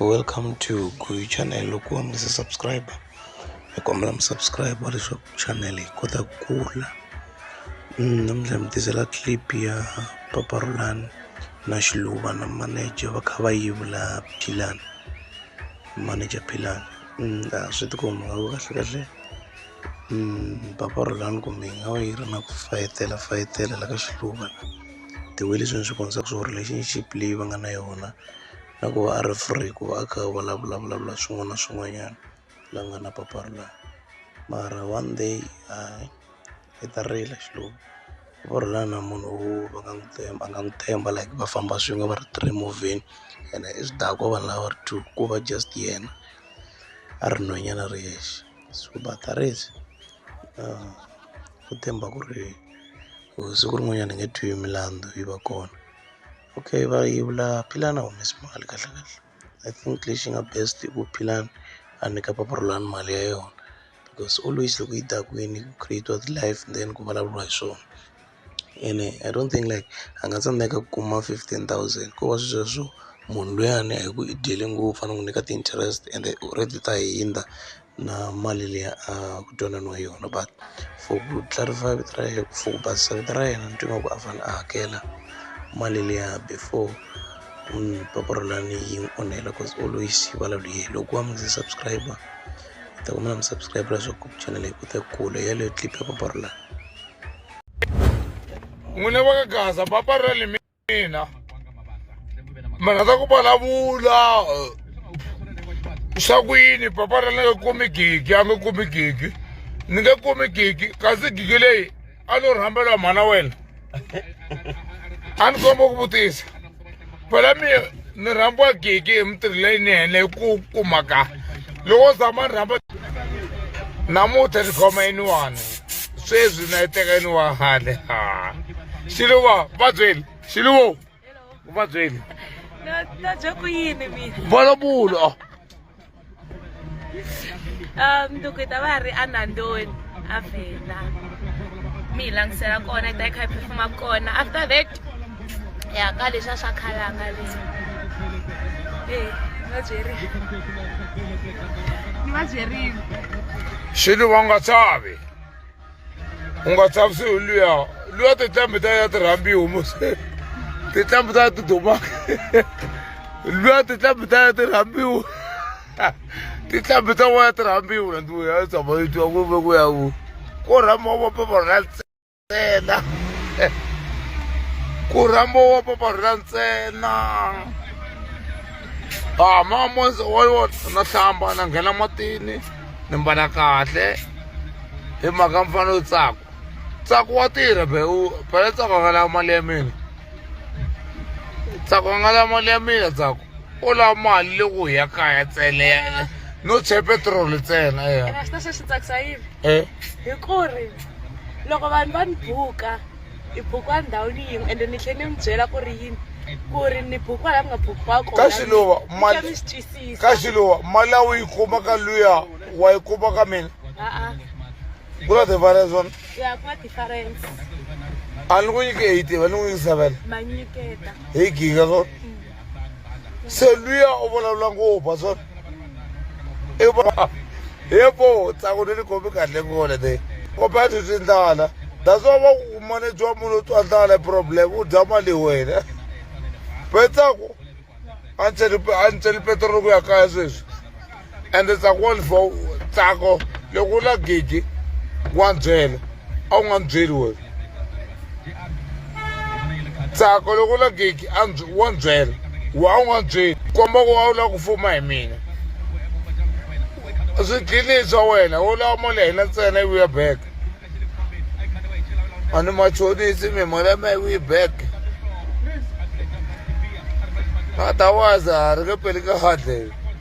Welcome to Kuyu channel. Ukuwa mlisa subscribe. Nikombela msubscribe wale shop channel kota kula. Mm, namdla mtizela clip ya Papa Roland na Shiluba na manager va kha va yivula Philani. Manager Philani. Mm, ah, swi tikomba kahle kahle. Papa Rhulani kumbe yi nga va yi ri na ku fayetela fayetela la ka xihluva the way leswi ni swi vonisaka swo relationship leyi va nga na yona na ku va a ri free ku va a kha a vulavula vulavula swin'wana na swin'wanyana la ku nga na Papa Rhulani mara one day hayi i ta rila xihluvi Papa Rhulani a hi munhu wo va nga n'wi tshemba a nga n'wi tshemba like va famba swin'we va ri three emovheni ene i swidakwa vanhu lava va ri two ko va just yena a ri nhwenyana a ri yexe. so va ta ri ku tshemba ku ri siku rin'wanyana hi nge twi milandzu yi va kona okay va yevula Philani a humesi mali kahle kahle I think lexi nga best i ku Philani a nyika papa Rhulani mali ya yona because always loko yi ta kwini ku create-iwa ti-live then ku vulavuriwa hi swona. ene I don't think like a nga tsandzeka ku kuma fifteen thousand ko va sweswo munhu luyani a hi ku i dyele ngopfu a ni n'wi nyika ti-interest ende u ri ti ta hundza na mali leyi a ku twananiwe yona but for ku clarify vito ra yena for ku basisa vito ra yena ni twa ingaku a fanele a hakela mali liya before ni yi n'wi onhela cause always yi vulavula hi yena loko a n'wi subscribe ni ta ku mi na mi subscribe-a leswaku channel yi kota ku kula hi yeleyo clip ya Papa Rilana. n'wina va ka gaza papa ra le mina mi rhandza ku vulavula swa ku yini papa ra ni nga kumi gigi a nga kumi gigi ni nge kumi gigi kasi gigi leyi a no rhambela mhana wena a ni komba ku vutisa phela mi ni rhambiwa gigi hi mitirho leyinene hi ku kumaka loko zama ni rhamba namuntlha ni khoma yiniwani sweswi na yi teka yiniwa hale ha xiluva va byeli xiluvo va byeli na na bya ku yini mina vona bulo um nduku ta va ri anandoni a vhela mi hi langisela kona ta yi kha yi phefuma kona after that ya ka leswi a swa khalanga leswi e va byeri ni va byerile xilo va nga tsavi u nga chavisiwi hi luya luya tinhlambi ta ya ti rhambiwi mos tinhlambi ta ya ti dumaka luya tinhlambi ta ya ti rhambiwi tinhlambi ta wa ya ti rhambiwi rhandiwe ya tshama yi twa ku ve ku ya ku ko rhamba wa papa ra ntsena ku rhamba wa papa ra ntsena a ah, ma monse wa yona na hlamba na nghena matini ni mbala kahle hi mhaka mfana yo tsako tsako wa tirha be u phela tsako a nga lava mali ya mina tsako a nga lava mali ya mina tsako u lava mali loko hi ya kaya tsele no che petrol ntsena eya xi tsakisa yini hi ku ri loko vanhu va ni buka hi bukiwa ndhawini yin'we ende ni tlhela ni mi byela ku ri yini ku ri ni bukiwa laha mi nga bukiwa kona ka xiluva mali mi swi twisisa ka xiluva mali a wu yi kuma ka luya wa yi kuma ka mina ku na difference wona ya ku na difference a ni ku nyike eight va ni ku nyike seven hi giga so se luya u vulavula ngopfu a swona i va he po tsaku ni ni khomi kahle ngole te compared to tindlala that's why va ku manejwa munhu u twa ndlala hi problem u dya mali hi wena pe tsaku a ni cheli a ni cheli petrol ku ya kaya sweswi ende tsako wa lifo tsako loko u la gidi wa byela a wu nga ni byeli wena tsako loko u la gidi a wa ni byela wa a wu nga ni byeli komba ku wa u lava ku fuma hi mina swidlilii swa wena wo lava mali ya hina ntsena yi vuya back a ni machonisi mi mali ya mina yi vuyi back otherwise a ri nge peli ka hardley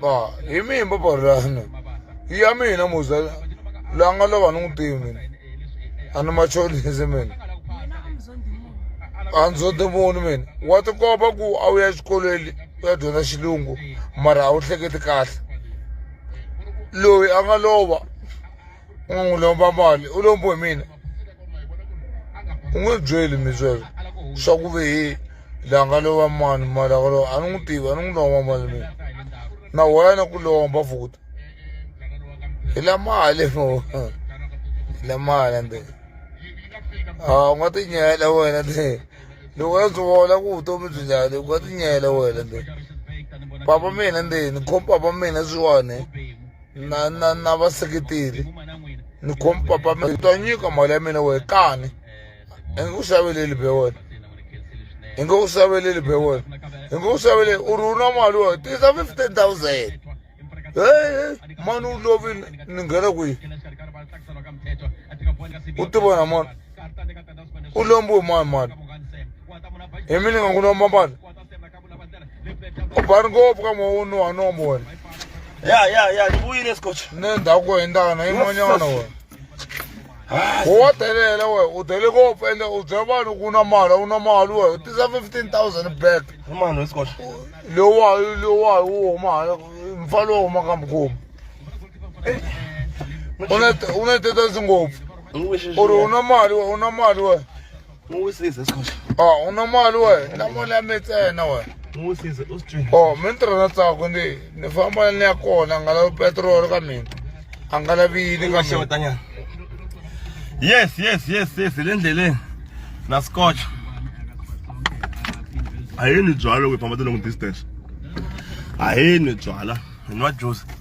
Ba, hi mihi mbabarelano ya mina muza la nga lova ni n'wi tivi mina a ni machonisi mina a ndzo timuni mina wa tikomba ku a wu ya exikolweni u ya dyondza xilungu mara a wu hleketi kahle loyi a nga lova n'wi lomba mali u lombe hi mina u nge byeli mi sweswo swa ku ve hi la nga lova mani mali a nga lova a ni n'wi tivi a ni n'wi lomba mali mina na wena ni ku lomba futhi hi la mali mo hi la mali ende a wu nga ti nyela wena te loko a byi vona ku vutomi byi njhani u nga ti nyela wena te papa mina ndzeni ni khoma papa mina sweswiwani. na na na vaseketeri ni khom papa mi ta nyika mali ya mina wehe kani i nge ku xaveleli be wena i nge ku xaveleli be wena i nge ku xaveleli u ri u na mali wena tisa fifteen thousand hehe mani u lovile ni nghena kwihi u tivona mani u lombiwe mani mani hi mina nga ku lomba mali ubhani ngopfu ka mawunu wa nombona ya ya ya ni vuyile scotch ne ndhawu ku hendana yin'wanyana wena wa delela we u dele ngopfu ende u byela vanhu ku na mali u na mali we u tisa fifteen thousand back mano scotch lowayi lowayi wu huma hala mfa lowu huma ka mukhomi u na tetasi ngopfu u ri u na mali we u na mali we N'wi wisisa Skhosha. Oh, u na mali wena. Na mali ya mi ntsena wena. N'wi wisisa u swi twile. Oh, mi ni tirha na tsako ndi ni famba ni ya kona a nga lavi petiroli ka mina. A nga lavi yini ka mina. Xewetanyana. Yes, yes, yes, yes, hi le ndleleni. Na Skhosha. A hi nwi byalwa loko hi famba ti-long distance. A hi nwi byalwa, hi nwa juice.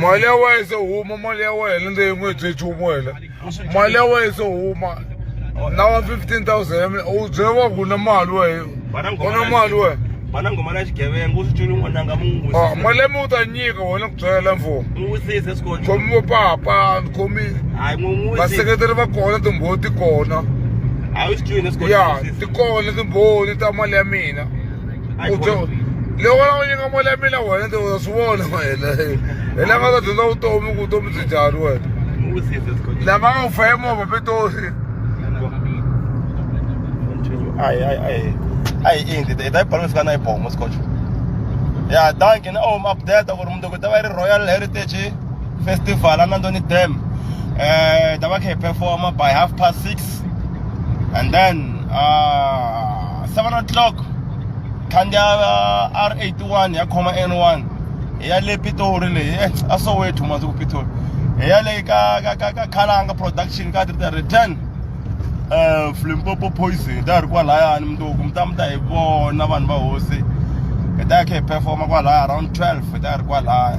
mali ya wena se huma mali ya wena leyi n'wi hi nchumu wena mali ya wena se huma na wa 15000 u byele wa ku na mali wena u na mali wena vana ngoma na xigevenga u swi culi n'wananga mu n'wi ah, mali leyi mi u ta nyika wena ku byela mfumo n'wi wisise swi kota khomi vo papa ni khomi hayi n'wi n'wi vaseketeri va kona timbhoti kona hayi swi culi na swi kota ya ti kona timbhoni ta mali ya mina u dyo loko la n'wi nyika mali ya mina wena ti uza swi vona wena hi la nga ta dyondza vutomi ku vutomi byi njhani wena lama nga ku fa hi movha pitori ayi ayi ayi ayi indi hi ta yi balance ka na yi bomo scotch ya danke na om update ku ri mundoko ta va yi ri royal heritage festival a nandoni dam um ta va kha hi performa by half past six and then uh, seven o'clock khandziya r 81 ya khoma n1 hi ya le pitori leyi eh, a soweto masiku pitori hi ya leyi ka ka ka ka khalanga production ka tita return um flimpopo poison ta ri kwalayani mundzuku mi ta mi ta hi vona vanhu va hosi hi ta ya kha hi performa kwalaya around 12 hi ta ri kwalaya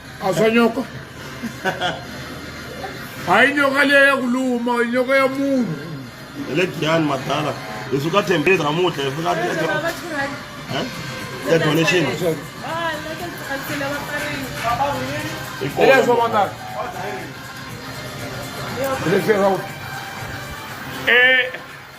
aswa nyoka hayi nyoka leyi ya ku luma nyoka ya munhu hi le giyani madala hi suka thembeni namuhla hi fika ya donation ileswo madala ileswo e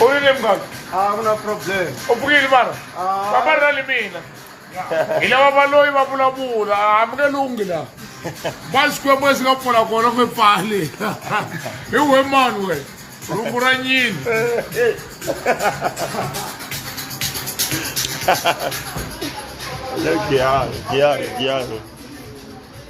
u ri le muganga a ku na problem u pfuke yini vana Ah. va va ri na le mina hi lava va loyi va vulavula a mi nge lunghi laha va xikwembu lexi nga pfula kona ku pfali hi we mani we rungu ra nyini Chiaro, chiaro, chiaro.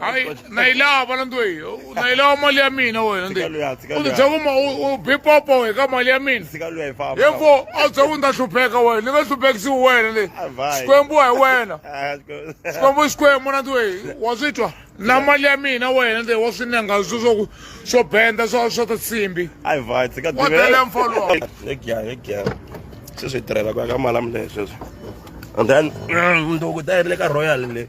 hayi na yi lava na ndwe na yi lava mali ya mina wena ndi u ti byela ku u bipopo we ka mali ya mina himbo a wu byela ku ni ta hlupheka wena ni nga hluphekisiwi wena le xikwembu hi wena xikwembu i xikwembu na ndwe wa swi twa na mali ya mina wena ndi wa swi nenga swo swo swo benda swa swa ta tsimbi wa tele mfolo wa sweswi hi tirhela ku ya ka mali ya mina sweswo and then mm, ndoko ta yi ri le ka royal le